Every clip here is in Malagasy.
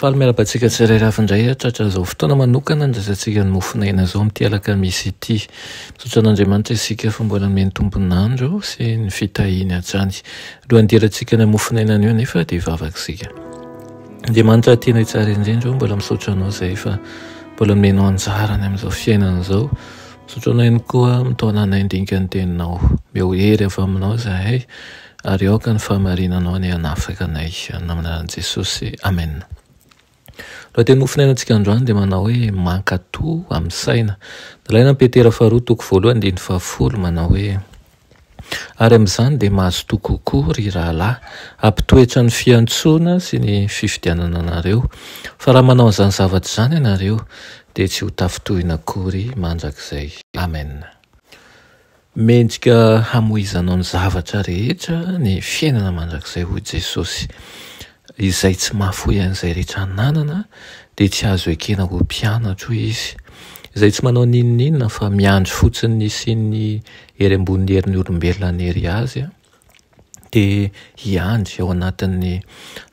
Faly miarahaba antsika tsirairay avy indray ah, tratra izao fotoana manokana handraisantsika ny mofon'aina izao amin'ity alakamisy ity. Misaotra an'Andriamanitra isika fa mbola nomeny tompon'andro sy ny fitahiany hatrany. Alohan'ny hidirantsika any amin'ny mofon'aina any eo anefa dia hivavaka isika. Andriamanitra tianay tsara indrindra oh, mbola misaotra anao izay fa mbola nomenao anjara any amin'izao fiainana izao. Misaotra anao ihany koa mitaona anay handinika ny teninao. Omeo hery avy aminao izahay Ary aoka ny fahamarinanao anie hanafaka anay any amin'ny anaran'i Jesosy. Amen. Lohateny no finainantsika androany dia manao hoe mankato amin'ny saina. Nalaina amin'ny Petera faharoa toko voalohany andininy fahafolo manao hoe ary amin'izany dia mazotoa kokoa ry rahalahy hampitoetra ny fiantsoana sy ny fifidianana anareo, fa raha manao an'izany zavatra izany ianareo dia tsy ho tafintohina akory mandrakizay. Amen. Mendrika hamoizanao ny zavatra rehetra ny fiainana mandrakizay hoy Jesosy. Izay tsy mahafoy an'izay rehetra ananana dia tsy azo ekena ho mpianatro hoy izy. Izay tsy manao n'inon'inona fa miandry fotsiny ny hisian'ny hery ambonin'ny herin'ny olombelona hanery azy. dia hiandry ao anatin'ny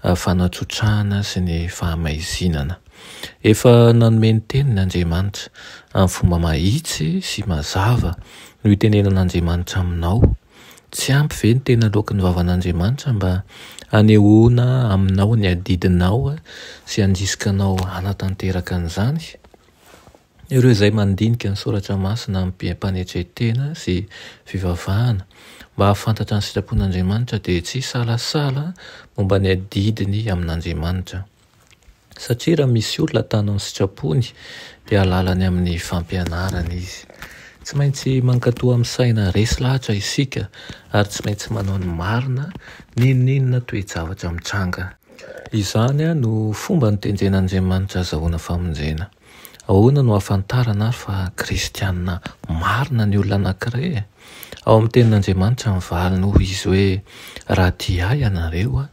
fanatsotrahana sy ny fahamaizinana. Efa nanome ny teniny Andriamanitra amin'ny fomba mahitsy sy mazava no itenenan'Andriamanitra aminao. Tsy ampy ve ny tena loaky ny vavan'Andriamanitra mba hanehoana aminao ny adidinao sy handrisika anao hanatanteraka an'izany? Ireo izay mandinika ny Soratra Masina amim-panetren-tena sy fivavahana mba hahafantatra ny sitrapon'Andriamanitra dia tsy hisalasala momba ny adidiny amin'Andriamanitra. Satria raha misy olona atano ny sitrapony dia halalany amin'ny fampianarany izy. Tsy maintsy mankatò amin'ny saina resy lahatra isika ary tsy maintsy manao ny marina n'inon'inona toe-javatra mitranga. Izany no fomba notendren'Andriamanitra azahoana famonjena. Ahoana no ahafantarana ary fa kristiana marina ny olona anankiray e? Ao amin'ny Tenin'Andriamanitra ny valiny hoy izy hoe, Raha tia ahy ianareo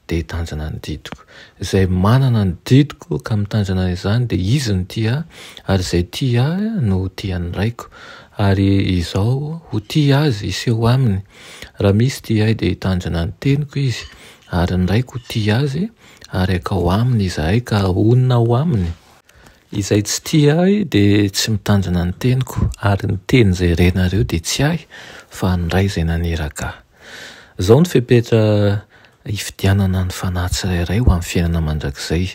dia hitandrina ny didiko. Izay manana ny didiko ka mitandrina izany dia izy no tia ahy, ary izay tia ahy no ho tian'ny Raiko, ary izaho ho tia azy hiseho aminy. Raha misy tia ahy dia hitandrina ny teniko izy, ary ny Raiko ho tia azy, ary akao aminy izahay ka honina ao aminy. Izay tsy tia ahy dia tsy mitandrina ny teniko, ary ny teny izay renareo dia tsy ahy, fa ny Ray izay naniraka ahy. Izao no fepetra hifidianana ny fanahy tsirairay ho amin'ny fiainana mandrakizay,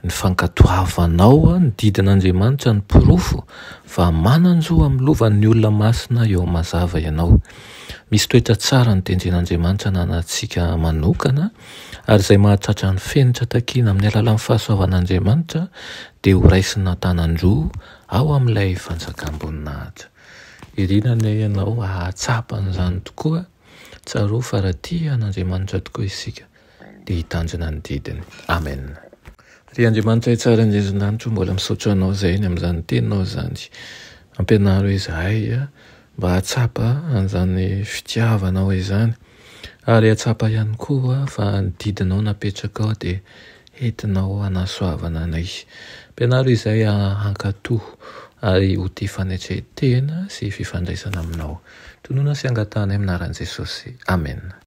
ny fankatoavanao ny didin'Andriamanitra ny porofo fa manan-jo amin'ny lovan'ny olona masina eo mazava ianao. Misy toetra tsara notendren'Andriamanitra hananantsika manokana Ary izay mahatratra ny fenitra takiana amin'ny alalan'ny fahasoavan'Andriamanitra dia horaisina an-tanan-droa ao amin'ilay fanjakam-boninahitra. Iriana anie ianao hahatsapa an'izany tokoa. Tsarovy fa raha tia an'Andriamanitra tokoa isika dia hitandrina ny didiny. Amena. Ry Andriamanitra hitsara an-dRezinanitro, mbola misaotra Anao izay ny amin'izany Teninao izany. Ampianaro izahay mba hahatsapa an'izany fitiavanao izany ary hahatsapa ihany koa fa ny didinao napetrakao dia entinao hanasoavana anay. Ampianaro izay hankatò ary ho tia fanetren-tena sy fifandraisana aminao. Tonona sy angatahanay amin'ny anaran'i Jesosy. Amena.